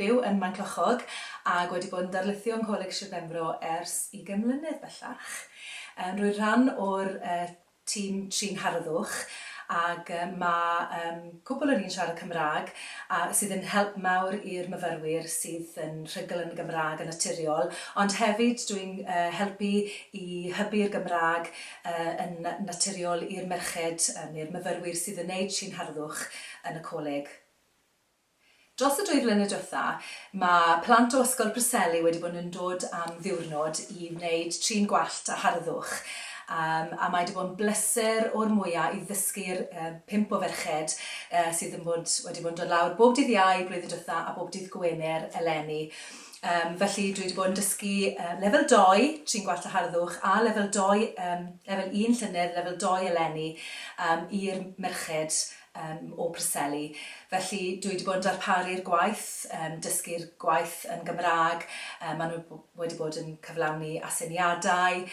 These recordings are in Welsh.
Byw yn Maenclochog ac wedi bod yn darlithio yng Ngholeg Sir Benfro ers ugain mlynedd bellach. Yym rwy'n rhan o'r yy tîm trin harddwch ag yy mae yym cwpwl o ni'n siarad Cymraeg a sydd yn help mawr i'r myfyrwyr sydd yn rhugl yn y Gymraeg yn naturiol ond hefyd dwi'n yy helpu i hybu'r Gymraeg yy yn na- naturiol i'r merched yy neu'r myfyrwyr sydd yn wneud trin harddwch yn y coleg. Dros y dwy flynedd diwetha, mae plant o Ysgol Preseli wedi bod yn dod am ddiwrnod i wneud trin gwallt a harddwch, a mae 'di bod yn bleser o'r mwya' i ddysgu'r pump o ferched sydd yn bod wedi bod yn dod lawr bob dydd Iau blwyddyn diwetha a bob dydd Gwener eleni. Felly dwi 'di bod yn dysgu lefel doi, trin gwallt a harddwch, a lefel doi, lefel un llynedd, lefel doi eleni, i'r merched. um, o Preseli. Felly dwi wedi bod yn darparu'r gwaith, um, dysgu'r gwaith yn Gymraeg, um, maen nhw wedi bod yn cyflawni asyniadau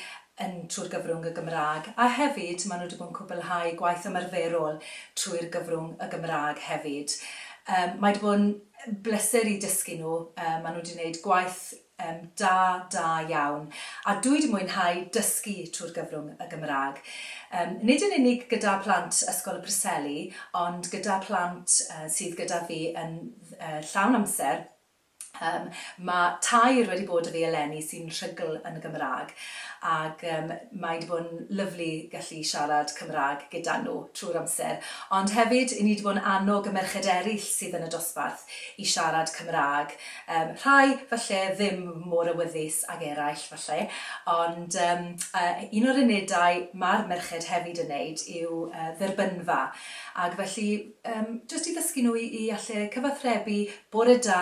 yn trwy'r gyfrwng y Gymraeg, a hefyd maen nhw wedi bod yn cwblhau gwaith ymarferol trwy'r gyfrwng y Gymraeg hefyd. Um, mae wedi bod yn bleser i dysgu nhw, um, maen nhw wedi gwneud gwaith Yym, da, da iawn. A dwi 'di mwynhau dysgu trwy'r gyfrwng y Gymraeg. Yym, nid yn unig gyda plant Ysgol y Preseli, ond gyda plant yy sydd gyda fi yn yy llawn amser, yym, ma' tair wedi bod 'da fi eleni sy'n rhugl yn y Gymraeg, ag yym mae 'di bod yn lyfli gallu siarad Cymraeg gyda nhw trwy'r amser. Ond hefyd, 'yn ni 'di bod yn annog y merched eryll sydd yn y dosbarth i siarad Cymraeg. Yym, rhai, falle, ddim mor awyddus ag eraill, falle, ond yym yy un o'r unedau ma'r merched hefyd yn neud yw yy dderbynfa, ag felly yym jyst i ddysgu nhw i i alle cyfathrebu, bore da,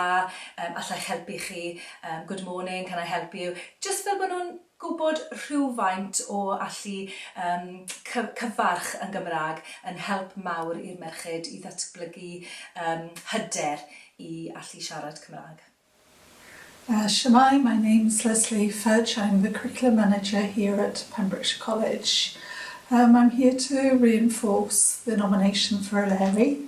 yym allai'ch helpu chi, yym good morning, can I help you, jyst fel bo' nhw'n Gwybod rhywfaint o allu yym cyf- cyfarch yn Gymraeg yn help mawr i'r merched i ddatblygu yym hyder i allu siarad Cymraeg. Yy shwmae, my name's Lesley Fudge, I'm the Curriculum Manager here at Pembrokeshire College. Yym I'm here to reinforce the nomination for Eleri.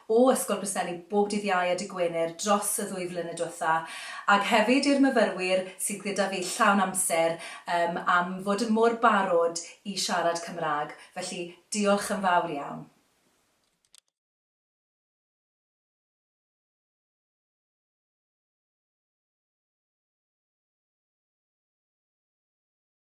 o Ysgol Preseli bob dydd Iau a Dy' Gwener dros y ddwy flynedd diwetha', ag hefyd i'r myfyrwyr sydd gyda fi llawn amser yym am fod yn mor barod i siarad Cymraeg, felly diolch yn fawr iawn.